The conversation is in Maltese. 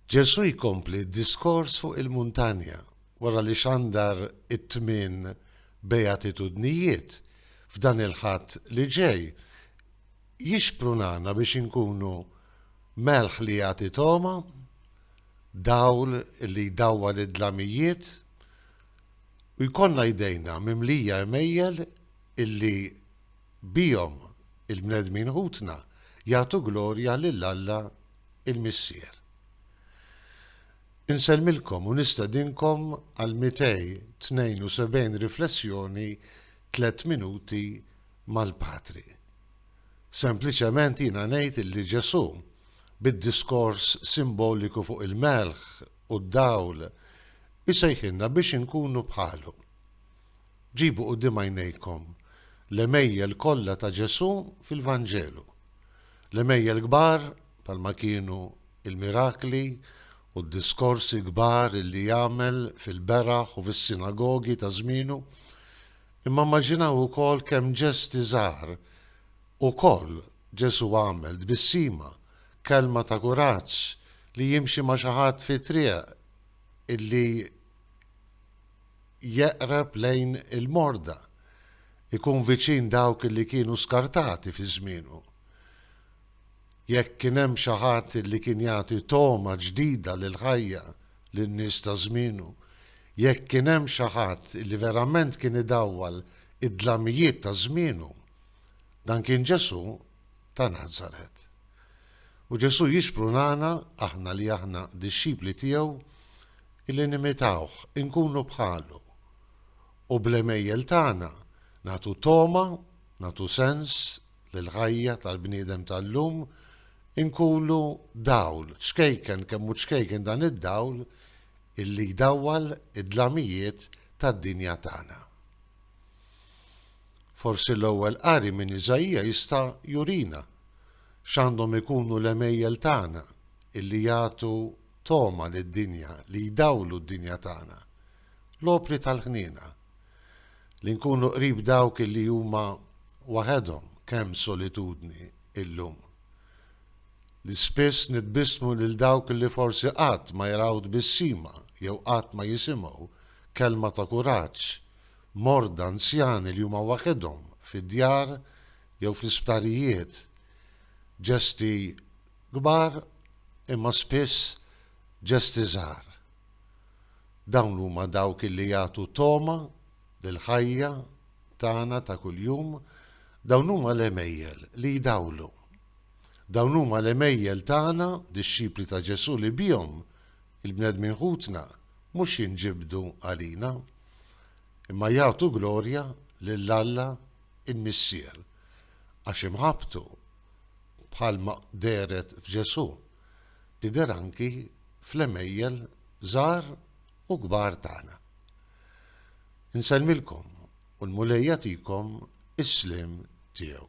Ġesù jkompli d-diskors fuq il-muntanja wara li xandar it-tmien beatitudnijiet f'dan il-Ħadd li ġej. Jixprunana biex inkunu melħ li jagħti togħma, dawl li jdawwal id-dlamijiet, u jkollna jdejna mimlija għemejjel illi Bihom, il-bnedmin ħutna jagħtu glorja lil Alla l-Missier. Insellmilkom u nistedinkom għal 272 riflessjoni tliet minuti mal-Patri. Sempliċement jiena ngħid illi Ġesù, bid-diskors simboliku fuq il-melħ u d-dawl, isejħilna biex inkunu bħalu. Ġibu quddiem għajnejkom l-għemejjel kollha ta' Ġesù fil-Vanġelu. L-għemejjel kbar bħalma kienu l-mirakli u d-diskorsi kbar li għamel fil-beraħ u fis-sinagogi ta' żmienu, imma immaġinaw ukoll kemm ġesti żgħar ukoll Ġesù għamel, tbissima, kelma ta' kuraġġ, li jimxi ma' xi ħadd fit-triq illi. jeqreb lejn il-morda, ikun viċin dawk li kienu skartati fi żmienu. Jekk kien hemm xi ħadd li kien jagħti togħma ġdida lill-ħajja lin-nies ta' żmienu, jekk kien hemm xi ħadd li verament kien idawwal id-dlamijiet ta' żmienu, dan kien Ġesù. ta' Nazaret. U Ġesù jixprunana, aħna li aħna dixxipli tiegħu, illi nimitawh, inkunu bħalu, u bl-għemejjel tagħna nagħtu togħma, nagħtu sens lill-ħajja tal-bniedem tal-lum, inkunu dawl, ċkejken kemm hu ċkejken dan id-dawl illi jdawwal id-dlamijiet tad-dinja tagħna. Forsi l-ewwel qari minn Iżaija jista' jurina x'għandhom ikunu l-għemejjel tagħna illi jagħtu togħma lid-dinja, li jdawlu d-dinja tagħna. L-opri tal-ħniena. Li nkunu qrib dawk illi huma waħedhom, kemm solitudni illum. Li spiss nitbissmu lil dawk illi forsi qatt ma jraw tbissima jew qatt ma jisimgħu kelma ta' kuraġġ morda, anzjani li huma waħedhom fid-djar jew fl-isptarijiet, ġesti kbar imma spiss ġesti żgħar. Dawn huma dawk illi jagħtu togħma lill-ħajja tagħna ta' kuljum, dawn huma l-għemejjel li jdawlu. Dawn huma l-għemejjel tagħna, dixxipli ta' Ġesù li bihom Il-bnedmin ħutna mhux jinġibdu għalina, imma jagħtu glorja lil Alla l-Missier, għax imħabbtu, bħalma dehret f'Ġesù, tidher anki fl-għemejjel żgħar u kbar tagħna. Insellmilkom u l-Mulej jagħtikom is-sliem tiegħu.